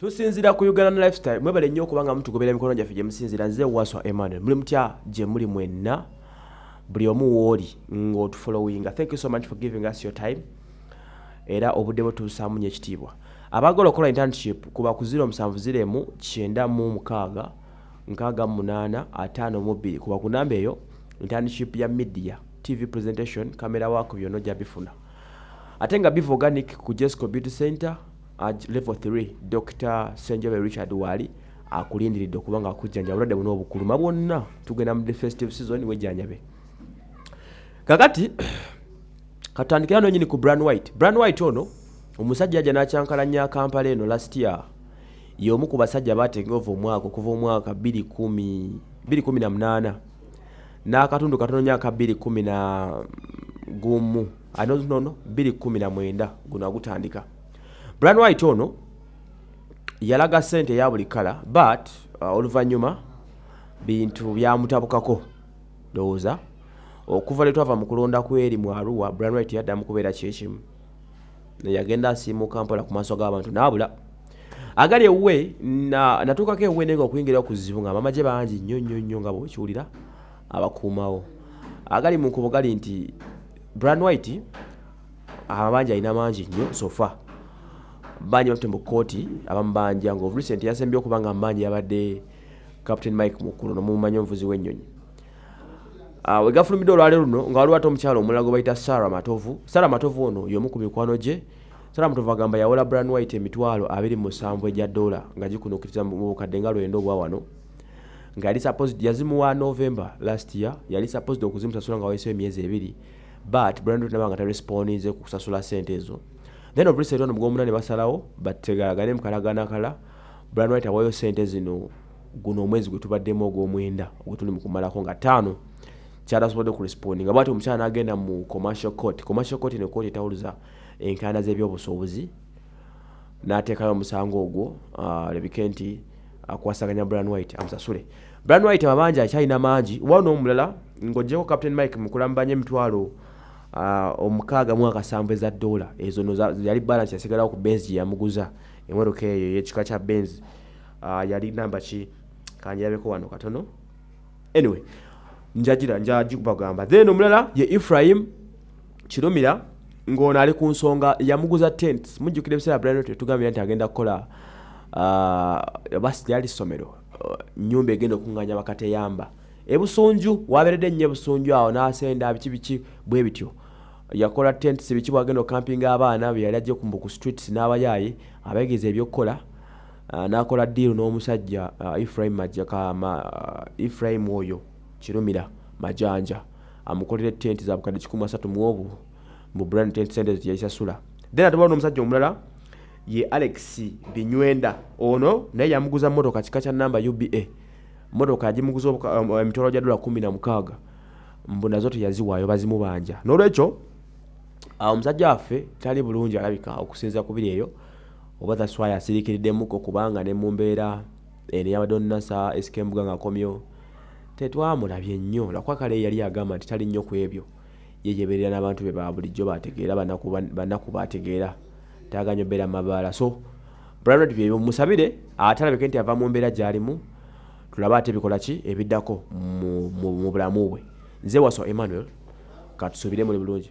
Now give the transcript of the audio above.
tusinzira ku uganda lifestyle mwebale nnyo okuba nga mutugobera emikono gyaffe gye musinzira nze waswa emmanuel muli mutya gye muli mwenna buli omu wooli ng'otufollowinga thank you so much for giving us your time era obudde bwe tubusaamu nyo ekitiibwa abaagala okukola internship kuba ku 0 musanvu ziremu kyenda mu mukaaga nkaaga mu munaana ataano mu bbiri kuba ku namba eyo internship ya media tv presentation camera work byonna ojja bifuna ate nga biva organic ku jesco beauty center ag level 3 dr senjobe richard waali akulindiridde okuba nga akujjanja obulwadde buno obukuluma bwonna tugenda mu defestive season wejjanjabe kakati katandikira nonyini ku bran white bran white ono omusajja yajja n'akyankalanya kampala eno last year y'omu ku basajja baatenga ova omwaka okuva omwaka 218 n'akatundu katono nyo aka bbiri kumi na gumu anonono bbiri kumi na mwenda guno agutandika brian white ono yalaga sente eya buli kala but uh, oluvannyuma bintu byamutabukako ndowooza okuva lwe twava mu kulonda kweri mu aruwa brian white yaddamu kubeera kyekimu yagenda asiimuka mpola ku maaso g'abantu n'abula agali ewuwe natuukako ewuwe naye nga okuyingira okuzibu nga amamagye bangi nnyo nnyo nnyo nga bwekiwulira abakuumawo agali mu nkubo gali nti brand white amabanja alina mangi nnyo sofa banja batute mu kkooti abamubanja nga of recent yasembye okuba nga amubanja yabadde captain mike mukulu nomumanyi omuvuzi w'ennyonyi Ah, we gafulumidde olwale luno nga waliwo ate omukyala omulala gwe bayita sara matovu sara matovu ono y'omu ku mikwano gye sara matovu agamba yawola bran white emitwalo abiri mu musanvu egya dola nga gikunuukiriza mu bukadde nga lwenda obwa wano nga yali supposed yazimuwa november last year yali supposed okuzimusasula nga wayisewo emyezi ebiri but bran white nabanga tarespondize ku kusasula sente ezo then of recent ono mu gwomuna ne basalawo bategalagane mu kalagana kala bran white awayo sente zino guno omwezi gwe tubaddemu ogw'omwenda ogwetuli mu kumalako nga ttaano kyatasobodde okurespondi nga bwati omukyala n'agenda mu commercial court commercial court eno kooti etawuluza enkaayana z'ebyobusuubuzi n'ateekayo omusango ogwo ah, alabike nti akwasaganya bran white amusasule bran white amabanja akyalina mangi oba n'omulala ng'ogyeko captain mike mukulambanya emitwalo ah, omukaaga mu akasanvu eza doola ezo no yali balance yasigalawo ku benzi gye yamuguza emotoka eyo ey'ekika kya benzi uh, yali namba ki kanjirabeko wano katono anyway njagira njagibagamba then omulala ye ephraim kirumira ng'ono ali ku nsonga yamuguza tent mujjukira ebiseera brian tetugambira nti agenda kukola uh, basi lyali ssomero uh, nyumba egenda okuŋŋanya bakateyamba ebusunju waberedde nnyo ebusunju awo n'asenda biki biki bwe bityo yakola tents biki bwagenda okukampinga abaana beyali ajje kumbu ku streets n'abayaaye abegeeza ebyokukola Ah, n'akola diiru n'omusajja ah, efraim majakama ah, efraim oyo kirumira majanja amukolera tenti zabukadde kikumi asatu muobu mbu brand tent sente zeyayisasula then ate waliwo n'omusajja omulala ye alex binywenda ono naye yamuguza motoka kika kya namba uba motoka yagimuguza um, emitwalo gya dola kumi na mukaaga mbu nazo teyaziwaayo bazimubanja n'olwekyo omusajja waffe tali bulungi alabika okusinza kubiri eyo Oba that's why asirikiriddemuko kubanga ne mu mbeera eno eyabadde onnasa SK Mbuga ng'akomyewo tetwamulabye nnyo lwakuba kale yali agamba nti tali nnyo ku ebyo ye yebeerera n'abantu be ba bulijjo baategeera banaku baategeera taaga nnyo beera mabaala so branded byebyo musabire ate alabike nti ava mu mbeera gy'alimu tulabe ate bikola ki ebiddako mu bulamu bwe nze waso emmanuel katusuubire muli bulungi